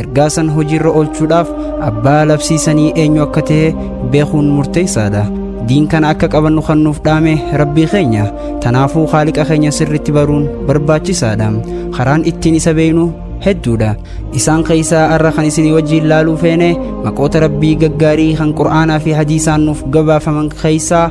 Ergaa san hojiirra oolchuudhaaf abbaa labsii sanii eenyu akka ta'e beekuun murteessaadha. Diin kana akka qabannu kan nuuf dhaame Rabbii keenya. Tanaafuu Khaaliqa keenya sirriitti baruun barbaachisaadha. Karaan ittiin isa beeynu hedduudha. Isaan keessaa arra kan isinii wajjiin laaluu feene maqoota Rabbii gaggaarii kan Qur'aanaa fi Hadiisaan nuuf gabaafaman keessaa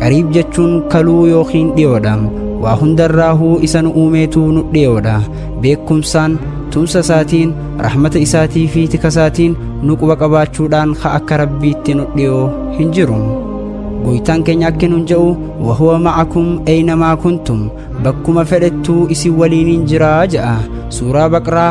qariib jechuun kaluu yookiin dhiyoodha waa hundarraahuu isa nu uumeetuu nu dhiyoodha beekumsaan tumsa isaatiin rahmata isaatii fi tika isaatiin nu quba qabaachuudhaan ka akka rabbiitti nu dhiyoo hin jiru goytaan keenya akki nun je'u wahuwa ma'akum eynamaa kuntum bakkuma fedhettuu isin waliiniin jiraa je'a suuraa baqraa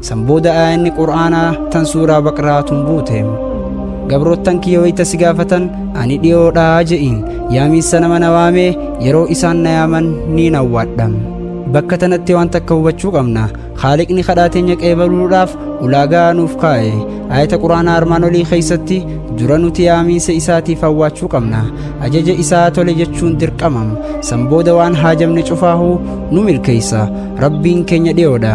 San booda aayanni Qur'aanaa tan suuraa Baqraa tun buute. Gabroottan kiyya wayta si gaafatan ani dhiyoodhaa je'iin yaamiinsa nama na waamee yeroo isaan na yaaman ni nawwaadha. Bakka tanatti waan takka hubachuu qabna. Haaliqni kadhaa teenya qeebaluudhaaf ulaagaa nuuf kaa'e. Aayata Qur'aanaa armaan olii keessatti dura nuti yaamiinsa isaatiif hawwaachuu qabna. Ajaja isaa tole jechuun dirqama. San booda waan haajamne cufaahu nu milkeessa. Rabbiin keenya dhiyoodha.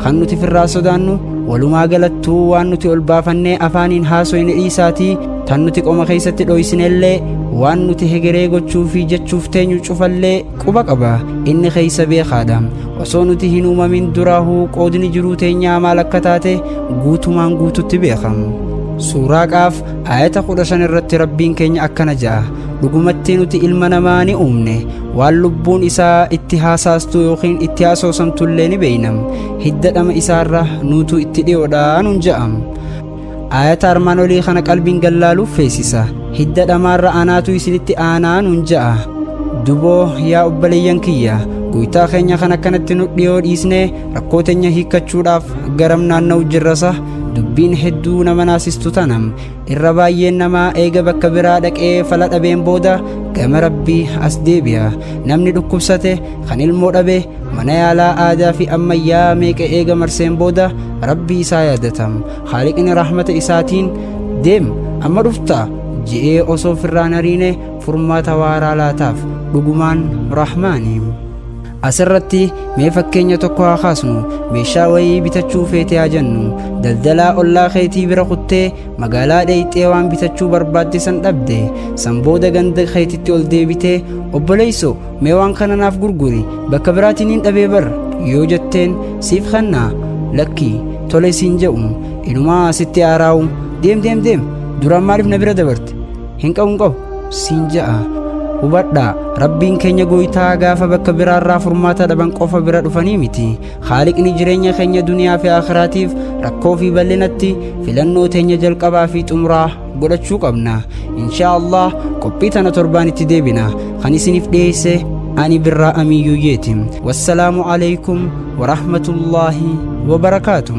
kan nuti firraa sodaannu walumaa galattuu waan nuti ol baafannee afaaniin haasoyne dhiisaatii tan nuti qoma keessatti dhoysinellee waan nuti hegeree gochuu fi jechuuf teenyu cufallee quba qaba inni keessa beekaadha osoo nuti hin uumamin duraahuu qoodni jiruu teenyaa maal akka taate guutumaan guututti beeka suuraa qaaf aayata kudha shan irratti rabbiin keenya akkana ja'a dhugumatti nuti ilma namaa ni uumne waan lubbuun isaa itti haasaastu yookiin itti haasoosamtu illee ni beeynam hidda dhama isaarra nuutu itti dhiyoodha nun ja'am aayata armaan olii kana qalbiin gallaaluuf feesisa hidda dhamaarra anaatu isinitti aanaa nun ja'a duboo yaa obboleeyyan kiyya goytaa keenya kan akkanatti nu dhiyoo dhiisne rakkoo teenya hiikkachuudhaaf garam naanna'u jirrasa dubbiin hedduu nama naasistu tanam Irra baay'een namaa eega bakka biraa dhaqee fala dhabeen booda gama rabbii as deebi'a. Namni dhukkubsate kan ilmoo dhabe mana yaalaa aadaa fi ammayyaa meeqa eega marseen booda rabbii isaa yaadatam. Haaliqni rahmata isaatiin deem amma dhufta je'ee osoo firraan hariine furmaata waaraa laataaf. Dhugumaan rahmaani. Asirratti mee fakkeenya tokko haa kaasnu meeshaa wayii bitachuu feetee haa jennu daldalaa ollaa keetii bira kuttee magaalaa dheeyxee waan bitachuu barbaadde san dhabde san booda ganda keetitti ol deebitee obboleeyso mee waan kana naaf gurguri bakka biraatiin hin dhabee bar yoo jetteen siif kennaa lakki tole siin je'u inumaa sitti aaraa'u deem deem deem duraan maaliif na bira dabarte hin qabu hin qabu siin ja'a hubadhaa rabbiin keenya gooytaa gaafa bakka biraarraa furmaata dhaban qofa bira dhufanii miti haaliqni jireenya keenya duniyaa fi akhiraatiif rakkoo fi bal'inatti filannoo teenya jalqabaa fi xumuraa godhachuu qabna inshaa allah qophii tana torbaan itti deebina kan isiniif dhiyeesse ani birraa amiyyuyyeeti wassalaamu aleykum warahmatullaahi wabarakaatuh